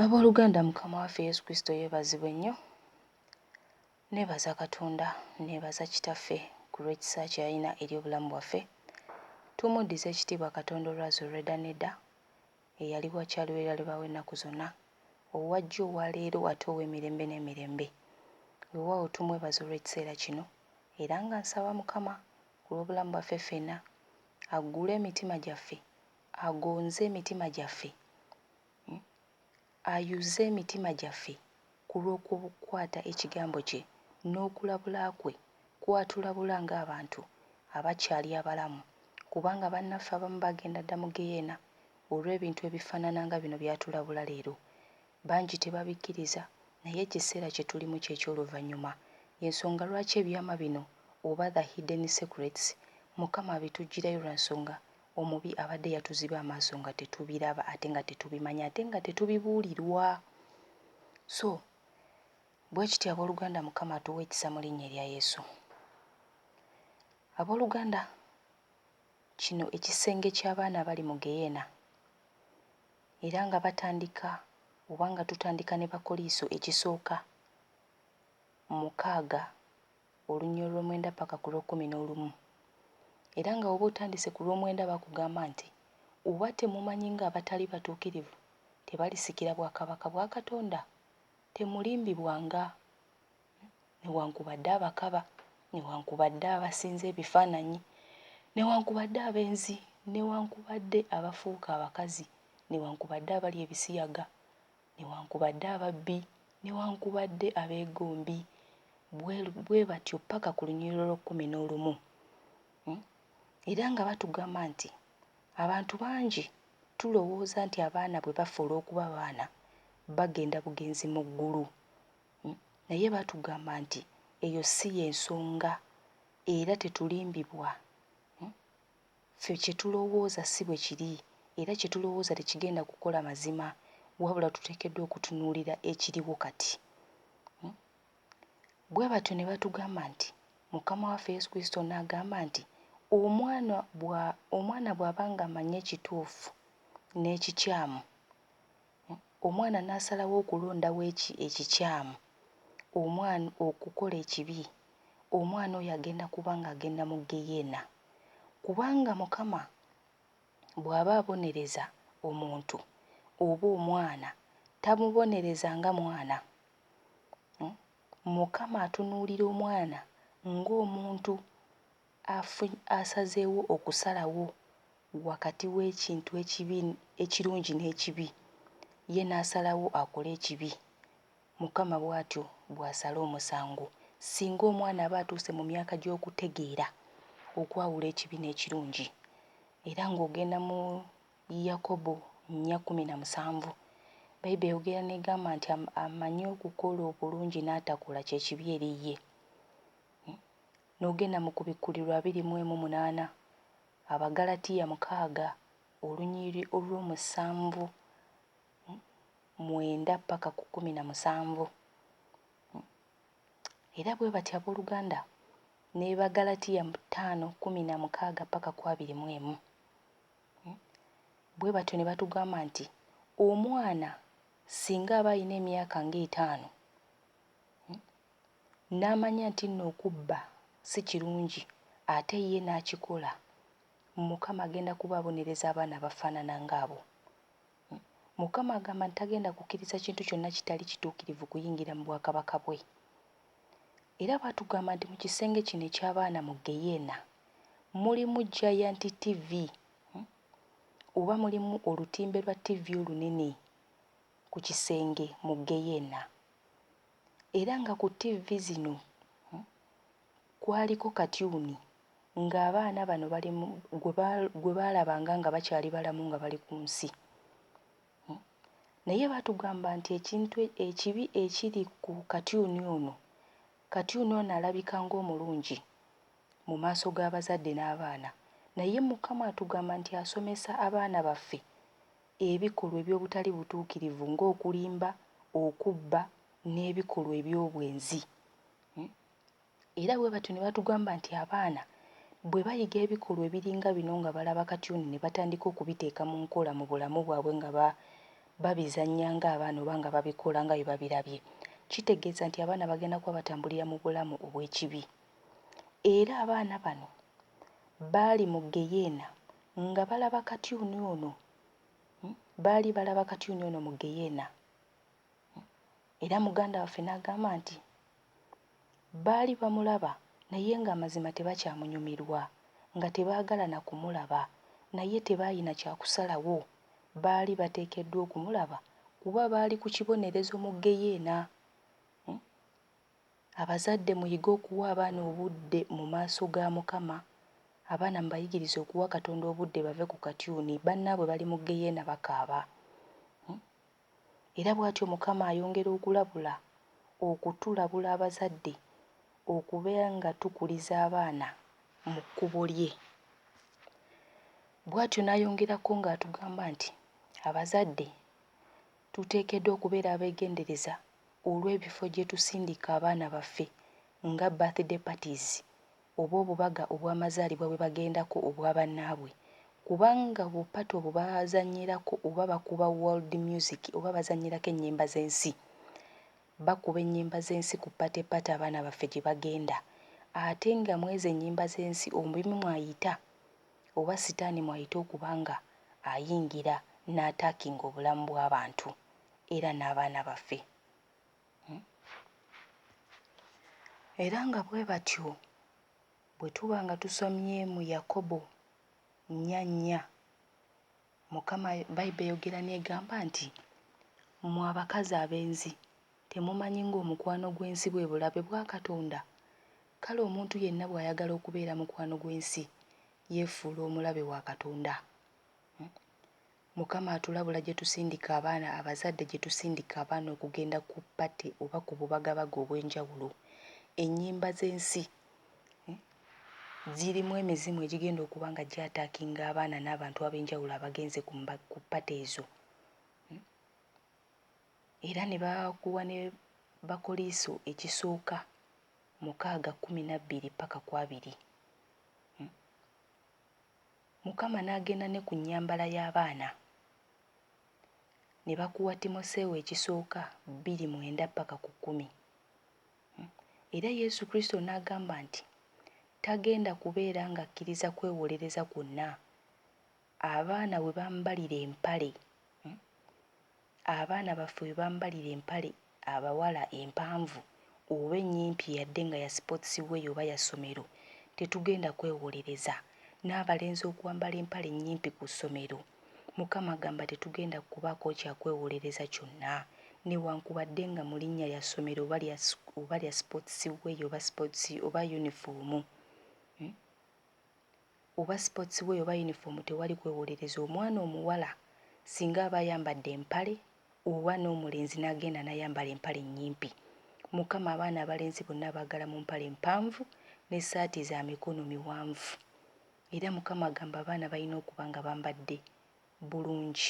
Abooluganda Mukama waffe Yesu Kristo yeebazibwe nnyo. Nneebaza Katonda, nneebaza Kitaffe ku lw'ekisa kye yalina eri obulamu bwaffe. Tumuddize ekitiibwa Katonda olwazi olw'edda n'edda, eyali wa kya lubeerera lubeerera w'ennaku zonna, owa jjo, owa leero ate ow'emirembe n'emirembe. Weewaawo tumwebaza olw'ekiseera kino era nga nsaba Mukama ku lw'obulamu bwaffe ffenna, aggule emitima gyaffe Agonze emitima gyaffe, ayuza emitima gyaffe ku lw'okukwata Ekigambo kye n'okulabula kwe kw'atulabula ng'abantu abakyali abalamu, kubanga bannaffe abamu bagenda dda mu geyeena olw'ebintu ebifaanana nga bino by'atulabula leero. Bangi tebabikkiriza, naye ekiseera kye tulimu ky'eky'oluvannyuma. Y'ensonga lwaki ebyama bino, oba the hidden secrets, Mukama abituggyirayo lwa nsonga Omubi abadde yatuziba amaaso nga tetubiraba ate nga tetubimanyi ate nga tetubibuulirwa. So bwe kityo abooluganda Mukama atuwa ekisa mu linnya erya Yesu. Abooluganda kino ekisenge ky'abaana abali mu geyeena era nga batandika oba nga tutandika ne bakoliiso ekisooka mukaaga olunya olwomwenda ppaka ku lw'okkumi n'olumu, era nga woba otandise ku lw'omwenda bakugamba nti oba temumanyi nga abatali batuukirivu tebalisikira bwakabaka bwa Katonda? Temulimbibwa nga newankubadde abakaba, newankubadde abasinza ebifaananyi, newankubadde abenzi, newankubadde abafuuka abakazi, newankubadde abalya ebisiyaga, newankubadde ababbi, newankubadde abeegombi, bwe bwe batyo ppaka ku lunyiriro lw'ekkumi n'olumu. Era nga batugamba nti abantu bangi tulowooza nti abaana bwe bafa olw'okuba baana bagenda bugenzi mu ggulu, naye batugamba nti eyo si y'ensonga era tetulimbibwa. Ffe kye tulowooza si bwe kiri, era kye tulowooza tekigenda kukola mazima, wabula tuteekeddwa okutunuulira ekiriwo kati. Um. Bwe batyo ne batugamba nti, Mukama waffe Yesu Kristo n'agamba nti, Omwana bwa, omwana bw'aba nga amanyi ekituufu n'ekikyamu, Omwana n'asalawo okulondawo eki, ekikyamu, omwana okukola ekibi, omwana oyo agenda kuba nga agenda mu ggeyeena. Kubanga Mukama bw'aba abonereza omuntu oba omwana, tamubonereza nga mwana. Mukama atunuulira omwana ng'omuntu Afuny asazeewo okusalawo wakati w'ekintu ekibi ekirungi n'ekibi, ye n'asalawo akole ekibi, Mukama bw'atyo bw'asala omusango. Singa omwana aba atuuse mu myaka gy'okutegeera okwawula ekibi n'ekirungi, era ng'ogenda mu Yakobo nnya kkumi na musanvu, Baibuli eyogera n'egamba nti amanyi okukola obulungi n'atakola kye kibi eri ye. N'ogenda mu Kubikkulirwa abiri mu emu munaana, Abaggalatiya mukaaga olunyiriri olw'omusanvu mwenda paka ku kkumi na musanvu. Era bwe batyo ab'oluganda ne Baggalatiya ttaano kkumi na mukaaga paka ku abiri mu emu. Bwe batyo ne batugamba nti omwana singa aba alina emyaka nga etaano, n'amanya nti nno okubba si kirungi ate ye n'akikola, Mukama agenda kuba abonereza abaana abafaanana ng'abo. Mukama agamba nti tagenda kukkiriza kintu kyonna kitali kituukirivu kuyingira mu bwakabaka bwe. Era baatugamba nti mu kisenge kino eky'abaana mu ggeyeena mulimu Giant TV oba mulimu olutimbe lwa ttivi olunene. ku kisenge mu ggeyeena, era nga ku ttivvi zino kwaliko katyuni ng'abaana bano bali mu gwe ba gwe baalabanga nga bakyali balamu nga bali ku nsi. Naye baatugamba nti ekintu ekibi ekiri ku katyuni ono, katyuni ono alabika ng'omulungi mu maaso g'abazadde n'abaana naye Mukama atugamba nti asomesa abaana baffe ebikolwa eby'obutali butuukirivu ng'okulimba, okubba, n'ebikolwa eby'obwenzi. Era bwe batyo ne batugamba nti abaana bwe bayiga ebikolwa ebiringa bino nga balaba katyuni ne batandika okubiteeka mu nkola mu bulamu bwabwe nga babizannya ng'abaana oba nga babikola nga bwe babirabye, kitegeeza nti abaana bagenda kuba batambulira mu bulamu obw'ekibi. Era abaana bano baali mu ggeyeena Nga balaba katyuni ono, baali balaba katyuni ono mu ggeyeena. Era muganda waffe n'agamba nti, baali bamulaba naye ng'amazima tebakyamunyumirwa, nga tebaagala na kumulaba, naye tebaalina kya kusalawo, baali bateekeddwa okumulaba kuba baali ku kibonerezo mu ggeyeena. Abazadde muyige okuwa abaana obudde mu maaso ga Mukama. Abaana mubayigirize okuwa Katonda obudde bave ku katyuni, bannaabwe bali mu ggeyeena bakaaba. Era bwatyo Mukama ayongera okulabula, okutulabula abazadde okubeera nga tukuliza abaana mu kkubo lye. Bwatyo n'ayongerako ng'atugamba nti abazadde tuteekeddwa okubeera abegendereza olw'ebifo gye tusindika abaana baffe nga birthday parties oba obubaga obw'amazaalibwa bwe bagendako obwa bannaabwe kubanga obupatta obwo bazannyirako oba bakuba world music oba bazannyirako ennyimba z'ensi. Bakuba ennyimba z'ensi ku party party abaana baffe gye bagenda ate nga mw'ezo ennyimba z'ensi omubi mw'ayita oba sitaani mw'ayita okuba nga ayingira n'ataakinga obulamu bw'abantu era n'abaana baffe. Era nga bwe batyo bwe tuba nga tusomye mu Yakobo nnya nnya, Mukama, Bayibuli eyogera n'egamba nti, Mmwe abakazi abenzi, temumanyi ng'omukwano gw'ensi bwe bulabe bwa Katonda? Kale omuntu yenna bw'ayagala okubeera mukwano gw'ensi, yeefuula omulabe wa Katonda. Mukama atulabula gyetusindika abaana abazadde gyetusindika abaana okugenda ku party oba ku bubagabaga obwenjawulo. Enyimba zensi zirimu emizimu egigenda okuba nga gya attackinga abaana nabantu abenjawulo abagenze ku party ezo era nebakuwa ne bakoliiso ekisooka mukaaga kumi nabbiri paka kwabiri. Mukama n'agenda ne ku nnyambala y'abaana, ne bakuwa Timoseewo ekisooka bbiri mwenda ppaka ku kkumi. Era Yesu Kristo n'agamba nti tagenda kubeera ng'akkiriza kwewolereza kwonna, abaana we bambalira empale, abaana baffe we bambalira empale abawala empanvu oba ennyimpi yadde nga ya sports wear oba ya ssomero tetugenda kwewolereza n'abalenzi okwambala empale ennyimpi ku ssomero Mukama gamba tetugenda kubaako kya kwewolereza kyonna newankubadde nga mu linnya lya ssomero oba lya oba lya sports wear oba sports oba yunifoomu. oba sports wear oba uniform tewali kwewolereza omwana omuwala singa aba ayambadde empale oba nomulenzi nagenda nayambala empale enyimpi mukama abaana abalenzi bonna abagala mumpale empanvu ne saati zamikono miwanvu era mukama agamba abaana balina okuba nga bambadde bulungi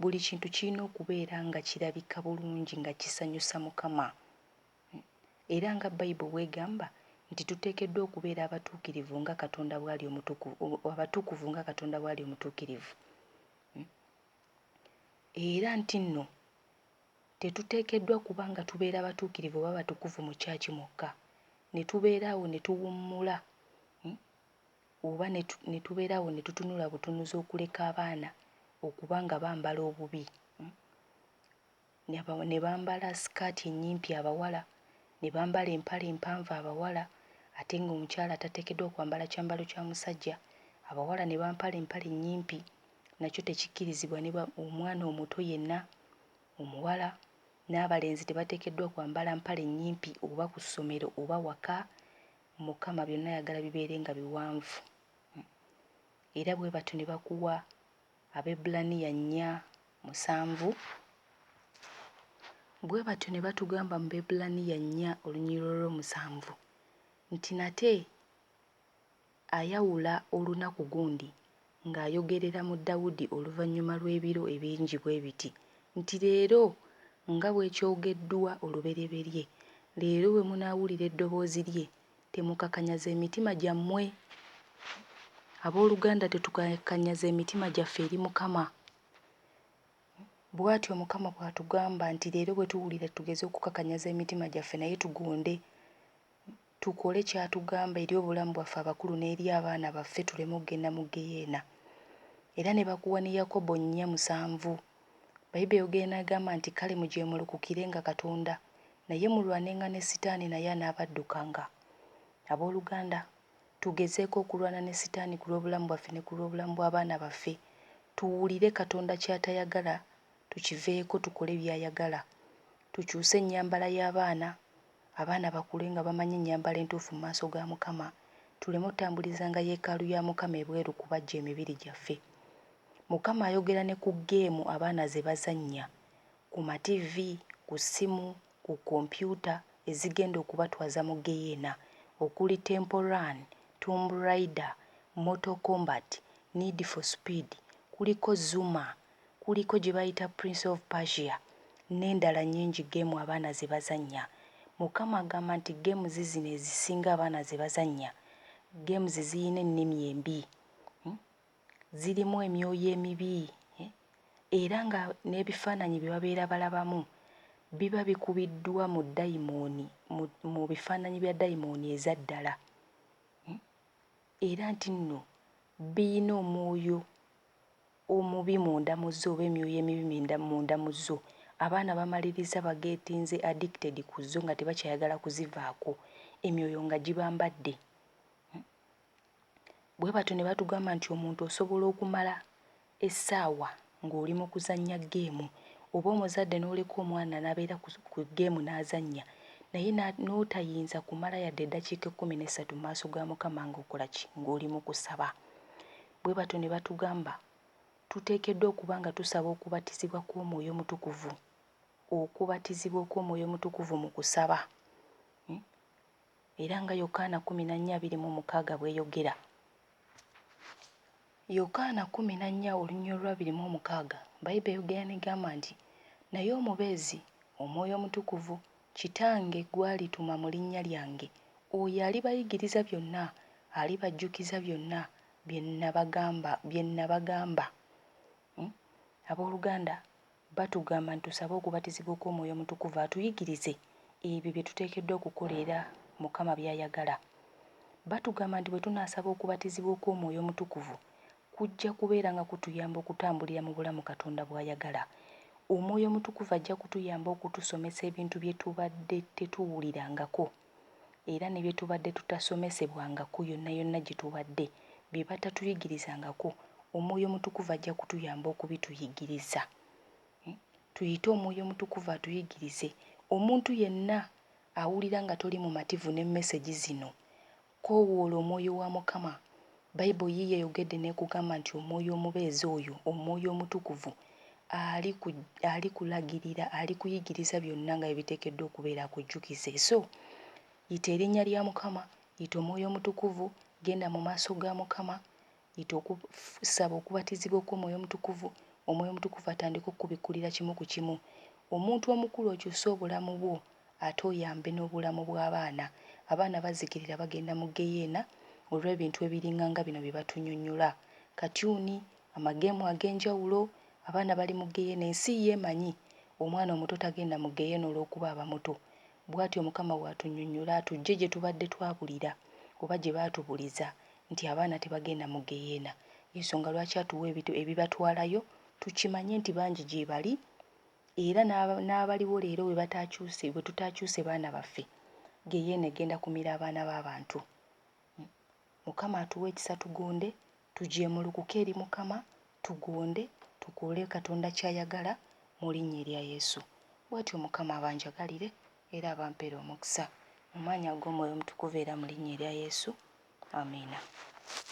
buli kintu kilina okubeera nga kilabika bulungi nga kisanyusa mukama Era nga Bayibul bw'egamba nti tuteekeddwa okubeera abatuukirivu nga Katonda bw'ali omutuku, abatukuvu nga Katonda bw'ali omutuukirivu, era ntinno tetuteekeddwa kuba nga tubeera batuukirivu oba batukuvu mu kyaki mwokka, ne tubeera awo ne tuwummula oba ne tubeera awo ne tutunula butunuzi okuleka abaana okuba nga bambala obubi. ne bambala sikaati ennyimpi abawala, ne bambala empale empanvu abawala ate ng'omukyala tateekeddwa kwambala kyambalo kya musajja, abawala ne bampala empale ennyimpi nakyo tekikkirizibwa ne ba omwana omuto yenna omuwala n'abalenzi tebateekeddwa kwambala mpale nnyimpi oba ku ssomero oba waka, Mukama byonna ayagala bibeere nga biwanvu era bwe batyo ne bakuwa Abaebbulaniya nnya musanvu, Bwe batyo ne batugamba mu Baebbulaniya nnya olunyiriri olw'omusanvu nti, Nate ayawula olunaku gundi ng'ayogerera mu Dawudi oluvannyuma lw'ebiro ebingi bwe biti nti, Leero, nga bwe kyogeddwa olubereberye, leero bwe munaawulira eddoboozi lye, Temukakanyaza emitima gyammwe. Abooluganda, tetukakanyaza emitima gyaffe eri Mukama. Bw'atyo Mukama bw'atugamba nti leero bwe tuwulira tugeze okukakanyaza emitima gyaffe naye tugonde, tukole ky'atugamba eri obulamu bwaffe abakulu n'eri abaana baffe tuleme okugenda mu ggeyeena. Era ne bakuwa ne Yakobo nnya musanvu. Bayibe yogera n'agamba nti, Kale mujeemulukukirenga Katonda, Naye mulwanenga ne Sitaani naye anaabaddukanga. Ab'oluganda, tugezeeko okulwana ne Sitaani ku lw'obulamu bwaffe ne ku lw'obulamu bw'abaana baffe. Tuwulire Katonda ky'atayagala, tukiveeko, tukole by'ayagala. Tukyuse ennyambala y'abaana, abaana bakule nga bamanyi ennyambala entuufu mu maaso ga Mukama, tuleme otambulizanga yeekaalu ya Mukama ebweru kubajja emibiri gyaffe. Mukama ayogera ne ku ggeemu abaana ze bazannya. ku mativi, ku ssimu, ku kkompyuta ezigenda okubatwaza mu ggeyeena okuli Temple Run, Tomb Raider, Mortal Kombat, Need for Speed, kuliko Zuma, kuliko gye bayita Prince of Persia n'endala nnyingi ggeemu abaana ze bazannya. Mukama agamba nti ggeemuzi zino ezisinga abaana ze bazannya, ggeemuzi zirina ennimi embi. zirimu emyoyo emibi era nga n'ebifaananyi bye babeera balabamu biba bikubiddwa mu dayimooni, mu, mu bifaananyi bya dayimooni eza ddala. Era nti nno birina omwoyo omubi munda mu zo oba emyoyo emibi minda, munda mu zo. Abaana bamaliriza bageetinze, addicted, ku zo nga tebakyayagala kuzivaako, emyoyo nga gibambadde. bwe batyo ne batugamba nti omuntu osobola okumala essaawa ng'oli mu kuzannya ggeemu oba omuzadde n'oleka omwana n'abeera ku ggeemu n'azannya naye n'otayinza kumala yadde eddakiika ekkumi n'essatu mu maaso ga Mukama ng'okola ki? Ng'oli mu kusaba. Bwe batyo ne batugamba tuteekeddwa okuba nga tusaba okubatizibwa kw'Omwoyo Omutukuvu, okubatizibwa okw'Omwoyo Omutukuvu mu kusaba. Hmm? Era nga Yokaana kkumi na nnya abiri mu mukaaga bw'eyogera, Yokaana kkumi na nnya olunyiriri olw'abiri mu omukaaga, Baibuli eyogera n'egamba nti, Naye Omubeezi, Omwoyo Omutukuvu, Kitange gw'alituma mu linnya lyange, oyo alibayigiriza byonna, alibajjukiza byonna bye nnabagamba, bye nnabagamba. Abooluganda, Batugamba nti tusabe okubatizibwa okw'Omwoyo Omutukuvu atuyigirize ebyo bye tuteekeddwa okukola era Mukama by'ayagala. Batugamba nti bwe tunaasaba okubatizibwa okw'Omwoyo Omutukuvu, kujja kubeera nga kutuyamba okutambulira mu bulamu Katonda bw'ayagala. Omwoyo Omutukuvu ajja kutuyamba okutusomesa ebintu bye tubadde tetuwulirangako. era ne bye tubadde tutasomesebwangako yonna yonna gye tubadde, bye batatuyigirizangako, Omwoyo Omutukuvu ajja kutuyamba okubituyigiriza. Tuyite Omwoyo Omutukuvu atuyigirize. Omuntu yenna awulira nga toli mumativu ne message zino, koowoola Omwoyo wa Mukama Bible yiyo eyogedde nekugamba nti omwoyo omubeezi oyo omwoyo omutukuvu ali ku ali kulagirira ali kuyigiriza byonna nga bwebitekeddwa okubeera akujjukize so yita erinnya lya mukama yita omwoyo omutukuvu genda mu maaso ga mukama yita oku saba okubatizibwa okwomwoyo omutukuvu omwoyo omutukuvu atandike okukubikkulira kimu ku kimu omuntu omukulu okyuse obulamu bwo. ate oyambe n'obulamu bw'abaana. Abaana bazikirira bagenda mu ggeyeena olw'ebintu ebiringa nga bino bye batunyonnyola, katyuni, amageemu ag'enjawulo, abaana bali mu ggeyeena ensi yo emanyi, omwana omuto tagenda mu ggeyeena olw'okuba aba muto. Bwatyo Mukama bw'atunyonnyola atuggye gye tubadde twabulira oba gye baatubuliza nti abaana tebagenda mu ggeyeena. Y'ensonga lwaki atuwa ebibatwalayo tukimanye nti bangi gyebali Era n'abaliwo leero bwe bataakyuse, bwe tutaakyuse baana baffe, ggeyeena egenda kumira abaana b'abantu. Mukama atuwe ekisa tugonde, tujeemulukuke eri Mukama, tugonde, tukole Katonda ky'ayagala mu Linnya erya Yesu. Bw'atyo Mukama abanjagalire era abampere omukisa. Mu Maanyi ag'Omwoyo Omutukuvu era mu Linnya erya Yesu. Amiina.